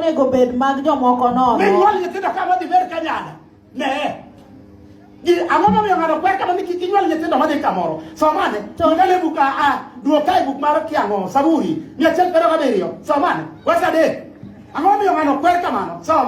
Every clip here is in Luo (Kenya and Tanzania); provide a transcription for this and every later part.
onego bed mag jomoko nono. Minyuol nyithindo kama dhi ber ka nyanya. Ne. Ang'o momiyo ng'ato kwer kama ni kik inyuol nyithindo madhi kamoro? Somane. Tongane buk a a duok kae buk mar kiang'o Saburi mia achiel piero gabiriyo. Somane. Wes adek. Ang'o momiyo ng'ato kwer kamano? Som.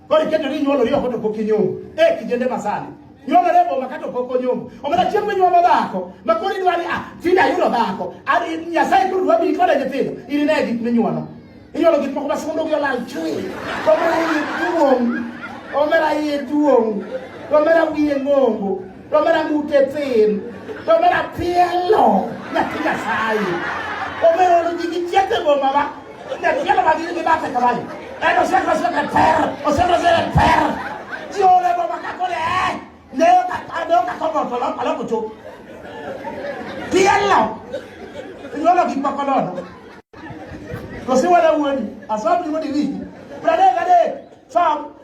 Kori kete ni nyuolo riyo koto pok inyuomo. E kijende masani. Nyuolo rebo ma kato pok onyuomo. Omena chieng' mi nyuomo dhako. Ma kori dwa ni ah tinda yudo dhako. Ari Nyasaye koro dwa bi kode nyithindo. Iri ne gik minyuolo. Inyuolo gik moko ma sondo gi olal chui. Komera iye duong'. Omera iye duong'. Omera wiye ng'ongo. to omera ng'ute thin to omera pielo nyathi nyasaye omera olo ji gi chiete boma ba nyapielo ma gin gi bathe kamae en osekoso ka ter osekoso ka ter ji ole boma ka kore eh ne ka ka ne ka ko boto lo kalo kucho pielo nyolo gi pakolono to si wala wuoni asabri wodi wi prade gade sam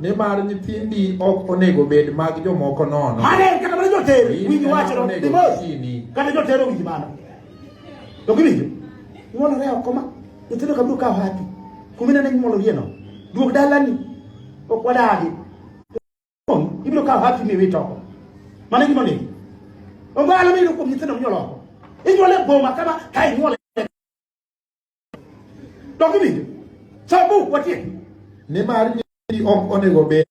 nimar nyithindi ok onego bed mag jomoko nono mane kata mana joter winji wachno dimos kata joter owinji mano to giwinjo nyuolore oko ma nyithindo kabiro kawo hapi kuma inene nyuolorieno duog dalani ok wadagi ibiro kawo hapi miwit oko mano gima onego ongalo miyudo kuom nyithindo minyuolo oko inyuole boma kama ka inyuole Dok winjo. Sabu watie. Nimar nyiri ok onego bed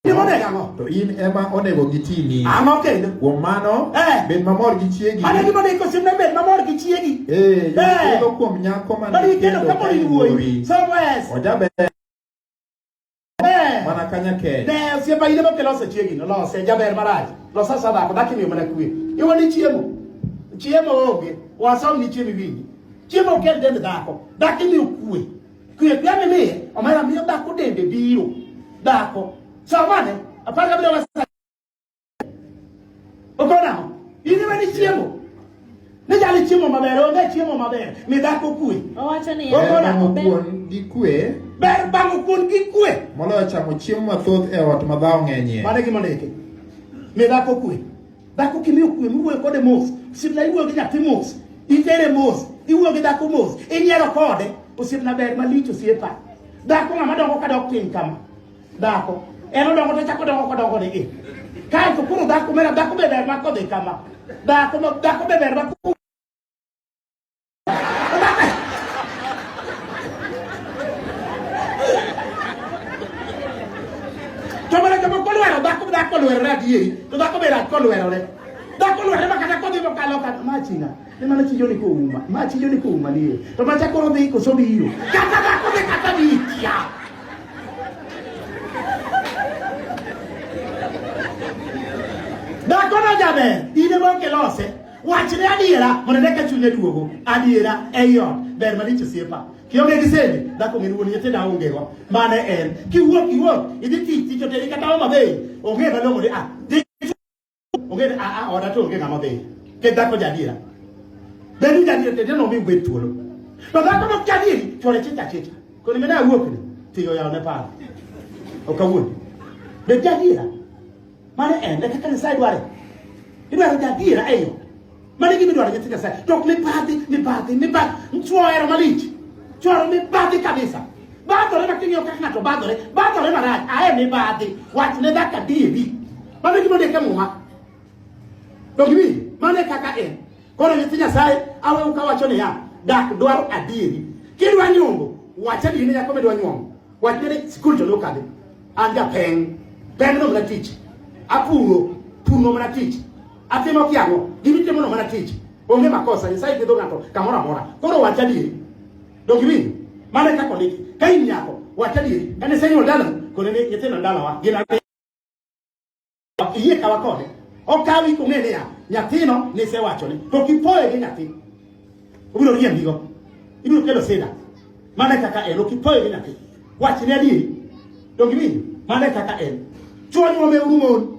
Gimonego ang'o? To in ema onego gitini. Ang'o kendo? Kuom mano, eh. bed mamor gi chiegi. Mano gima ne kosimne bed mamor gi chiegi. Eh, eh. kuom nyako ma ne kendo ka wuoyi. Somewhere. Ojaber. Eh. mana kanya kee ne sie ba ile bokelo ose chiegi no lose jaber maraj losa sada ko dakimi mana kuwe iwo ni chiemo chiemo onge wasaw ni chiemi winyi chiemo kel dende dako dakimi kuwe kuwe pia mi miye omara miyo dako dende biro dako samane apaka bila wasa Okona ho. Ini mani chiemo. Ne jali chiemo maber, onge chiemo maber. Mi dhako kwe. Owacho ni Okona ho. Kuon gi kwe. Ber bango kuon gi kwe. Moloyo chamo chiemo mathoth e ot ma dhawo ng'enyie. Mane gima ndeke. Mi dhako kwe. Dhako kimiyo kwe, miwuoyo kode mos. Sibla iwuoyo gi nyathi mos. Itere mos. Iwuoyo gi dhako mos. Inyiero kode. Osiepna ber malich osiepa. Dhako ng'ama dongo ka dok piny kama. Dhako. En odongo to chako dongo kodongo ni gi. Kae to kuro dhako mera dhako be ber mako dhi kama. Dhako ma dhako be ber mako. To mana joma kolwero dhako dhako lwero na diye. To dhako be rat kolwero ne. Dhako lwero ma kata kodhi mokalo kata ma chinga. Ne mana chijo ni kuuma. Ma chijo ni kuuma ni. To ma chakoro dhi ko so biro. Kata da ko ne kata bi kia. Da ko na jabe. Ine mo ke lose. Wach ne adiera mondo ne ka chunye duogo. Adiera e yo. Ber ma dicho siepa. Kionge gi sende, da ko ngeni woni yete da onge go. Mane en. Ki wuok, ki wuok. Idhi tich, tich oteri kata o mabe. Onge ba longo ni ah. Onge a a oda to onge ng'ama odhi. Ke dhako jadiera. Beni jadiera tete no mi ubed thuolo. To dhako no jadieri chore chicha chicha. Koni mena awuok ni tiyo yawo ne paro. Ok awuok. Be jadiera. Mane en e kaka Nyasaye dware. Idwaro jadiera e yo. Mani gima idwaro nyithi Nyasaye. To ok mibadhi, mibadhi, mibadhi. Chwo ohero malich. Chwo ohero mibadhi kabisa. Badhore ma king'iyo kaka ng'ato badhore, badhore marach. Ae mibadhi. Wach ne dhaka diebi. Mano gima ondik e muma. Dog ibi, mano e kaka en. Koro nyithi Nyasaye, awewu kawacho niya, dak dwaro adieri. Kidwa nyombo, wach adieri ne nyako midwa nyombo. Wach ne ni skul to nokadhi. An japeng'. Peng' no mana tich. Apuro, pur no mana tich. Atimo kiango, gini timo no mana tich. Onge makosa, Nyasaye gwedho ng'ato kamoro amora. Koro wach adieri. Donge winjo? Mane kaka ondiki. Ka in nyako, wach adieri. Kane sani odala, kone ni nyithindo dalawa gin ariyo. Iyie kawa kode. Okawi kong'e niya, nyathino nisewachone. To kipoye gi nyathi, obiro riembigo. Ibiro kelo sida. Mane kaka en, okipoye gi nyathi. Wachne adieri. Donge winjo? Mane kaka en. Chuo nyuome uru mon.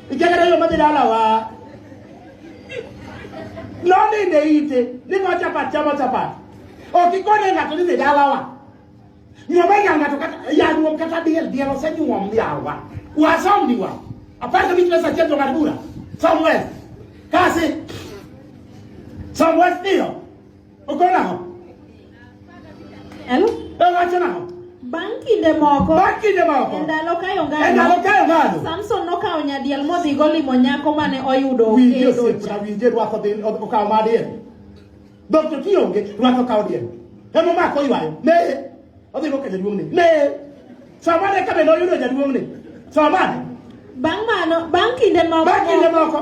Ijagara yo madhi dala wa. Noninde ite ni ma chapat chamo chapat. Ok ikone ng'ato ni dhi dala wa. Nyuom e ng'ato kata yanyuom kata diel diel osenyuom yawa. Wasom ni wa. Apar kabich pesa achiel to ng'at bura. Somewhere. Kasi. Somewhere still. Uko nao? Hello? Eh, wacha nao. Bang' kinde moko, Bang' kinde moko, e ndalo kayo ngano, e ndalo kayo ngano, Samson nokawo nyadiel modhi golimo nyako mane oyudo winje osiepa winje rwako dhi okawo madiel dhok to kionge rwako kawo diel emo mako ywayo ne odhi go ka jaduong'ne ne samane ka bende oyudo jaduong'ne samane bang' mano bang' kinde moko bang' kinde moko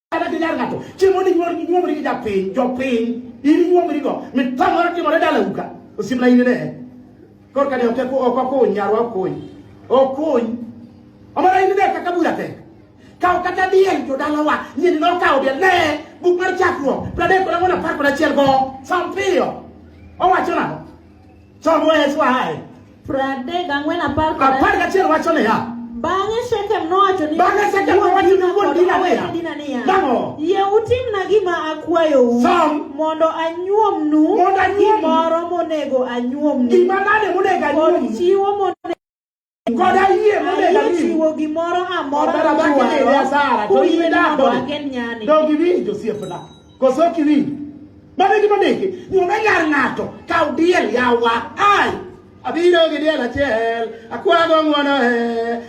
Kata ginyar ng'ato chiemo ni nyuol ni nyuomri gi japiny jopiny in nyuomri go mitamore timore dala uka osiepna in ne kor kani ok ko ok ko nyarwa okony okony omara in ne kaka bura te kaw kata diel to dalawa nyini no kaw diel ne buk mar chakruok pradek kod ang'wen apar kod achiel go sampiyo owacho nang'o Chomo Yesu ahaye. Pradek ang'wen apar kod Apar gachiel wacho niya. Bang'e Shekem nowacho ni Bang'e Shekem nowacho ni wuod Dina niya. Dina niya. Nang'o? Yie utimna gima akwayou. Som. Mondo anyuomnu. Mondo anyuomnu. Gimoro monego anyuomnu. Gima nade monego anyuomnu? Kod chiwo monego koda yie monego ami chiwo gimoro amora madwaro asara to in idak donge iwinjo osiepna koso ok iwinjo mano e gima ndiki nyume yar ng'ato kaw diel yawa ai abiro gi diel achiel akwago ng'wono e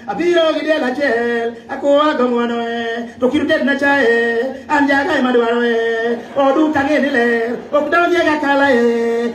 abiro gi diel achiel akwago ng'wono e to kir tedna chae an jagae madwaro e oduka ng'e ni ler ok donjega kala e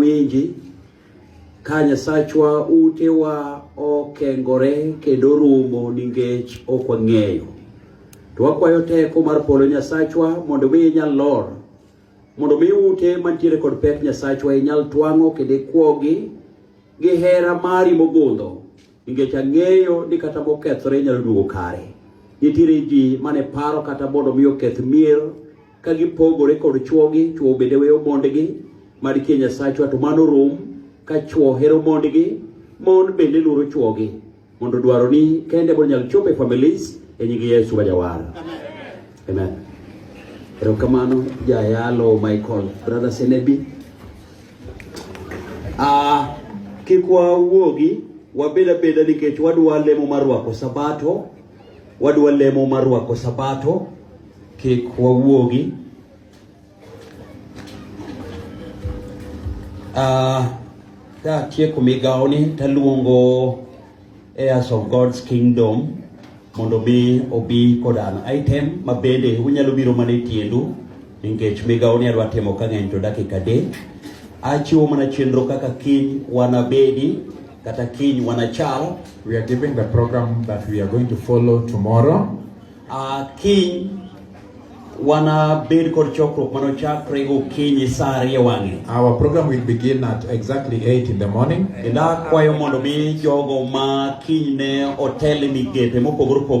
winji ka Nyasachwa utewa okengore kendo rumo ningech ok wang'eyo. To wakwayo teko mar polo Nyasachwa mondo mi inyal lor, mondo mi ute mantiere kod pek Nyasachwa inyal twang'o kendo ikwogi gi hera mari mogundho Nikech ang'eyo ni kata mokethore inyalo duogo kare. Nitiere ji mane paro kata mondo mi oketh mier ka gipogore kod chwogi, chwo bende weyo mondgi, mad kia Nyasachwa to mano rum ka chwo hero mondgi, mon bende luoro chwogi mondo dwaroni kende mondo nyal chopo e families e nying Yesu ma jawar. Amen. Erokamano jayalo Michael brother Senebi. Ah, kik wawuogi wabed abeda nikech wadwa lemo mar rwako sabato, wadwa lemo mar rwako sabato, kik wawuogi. Ah, ka tieko migawoni taluongo Heirs of God's Kingdom mondo mi obi kod an item ma bende unyalo biro mana e tiendu nikech migawo ni adwa timo ka ng'eny to dakika adek. Achiwo mana chenro kaka kiny wanabedi kata kiny wanachal. We are giving the program that we are going to follow tomorrow. Uh, kiny wana bed kod chokruok mano chakre gokinyi saa ariyo wang'e. Our program will begin at exactly 8 in the morning. Kendo akwayo mondo mi jogo ma kiny ne otel migepe mopogore opogore